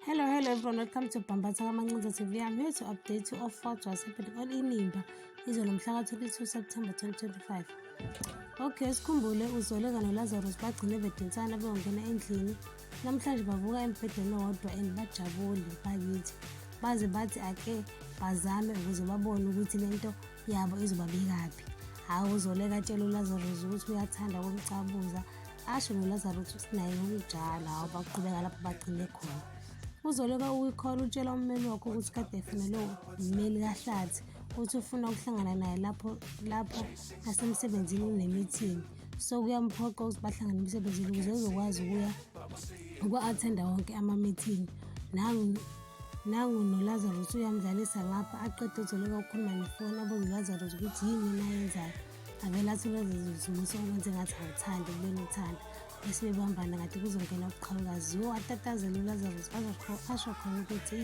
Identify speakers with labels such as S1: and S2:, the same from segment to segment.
S1: Hello, hello everyone. Welcome to Bambatha Kamancinza TV. I'm here to update you of what was happening on Inimba. Izolo mhlaka 22 September 2025. Okay, sikhumbule uzole kano Lazarus bagcine bedensana beyongena endlini. Namhlanje bavuka embhedeni owodwa and bajabule bakithi. Baze bathi ake bazame ukuze babone ukuthi lento yabo izobabekaphi. Hawu uzole katshela uLazarus ukuthi uyathanda ukumcabuza. asho nolazaruth ukuthi naye ngokunjalo hawu baqhubeka lapho bagcine khona uzoleka ukuyikhola utshela ummeli wakho ukuthi kade efunelwe ummeli kahlathi uthi ufuna ukuhlangana naye lapho lapho asemsebenzini unemithingi so kuyamphoqa ukuthi bahlangane emsebenzini ukuze uzokwazi ukuya uku-athenda wonke amamithingi nangu nangu nolazarus uyamdlalisa ngapha aqede uzoleka ukukhuluma nefoni abuze ulazarus ukuthi yini nayenzayo avele athi ulozizimisa okwenze ngathi awuthandi kubeni uthanda bese bebambana ngathi kuzongena ubuqhawukazi yo atatazela ulazarus asho khona ukuthi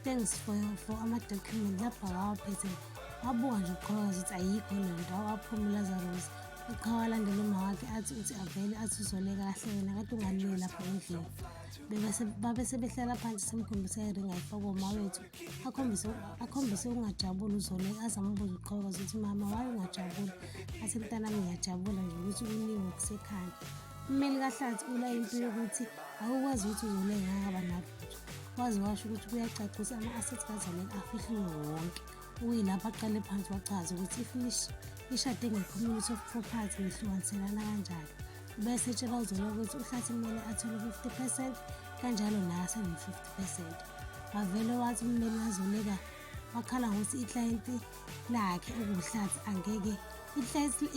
S1: thanks for, for ama-document lapha wawaphethe wabuka nje ubuqhawukazi ukuthi ayikho le nto awaphuma ulazarus uqhawa alandela uma wakhe athi uthi avele athi uzole kahle yena kade ungalile lapha endlini babe sebehlala phansi semkhombisa iringa ifaka uma wethu akhombise akhombise ukungajabuli uzole aze ambuze uqhaweka ukuthi mama waye ungajabuli athi mntanami ngiyajabula nje ukuthi kuningi okusekhanda ummeli kahlathi ula into yokuthi akukwazi ukuthi uzole ngakaba nalutho waze washo ukuthi kuyacacisa ama-assets kazoleka afihliwe wonke uyilapho aqale phansi wachaza ukuthi ifinish ishade nge-community of property lihlukaniselana kanjalo bese etshela uzoleka ukuthi uhlathi kumele athole 50 percent kanjalo naye asebe-50 esede wavele wathi ummeli wazoleka wakhala ngokuthi iklayenti lakhe okuwuhlathi angeke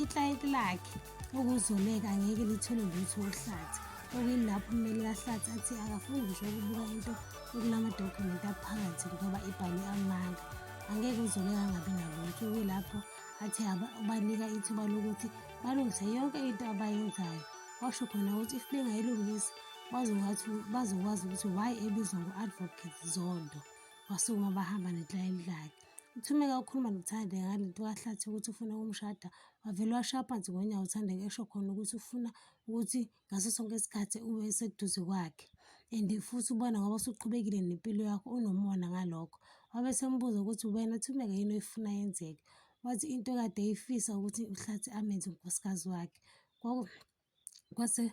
S1: iklayenti lakhe okuzoleka angeke lithole lutho uhlathi okuyilapho ummeli kahlathi athi akafuni ngisho ukubuka into okunamadokhumenti aphakathi ngoba ibhalwe amanga angeke uzoleka angabi nalutho okuyilapho athe ubanika ithuba lokuthi balungise yonke into abayenzayo washo khona ukuthi if bengayilungisi Bazokwazi bazokwazi ukuthi why ebizwa ngo-advocate Zondo wasukuma bahamba neklayenti lakhe. UThumeka ukhuluma noThandeka ngale nto kaHlathi ukuthi ufuna ukumshada, wavele washaya phansi ngonyawo uThandeka esho khona ukuthi ufuna ukuthi ngaso sonke isikhathi ube eseduze kwakhe and futhi ubona ngoba usuqhubekile nempilo yakho unomona ngalokho. Wabe esembuza ukuthi wena Thumeka yini oyifuna yenzeke? Wathi into ekade eyifisa ukuthi uHlathi amenze unkosikazi wakhe. Kwase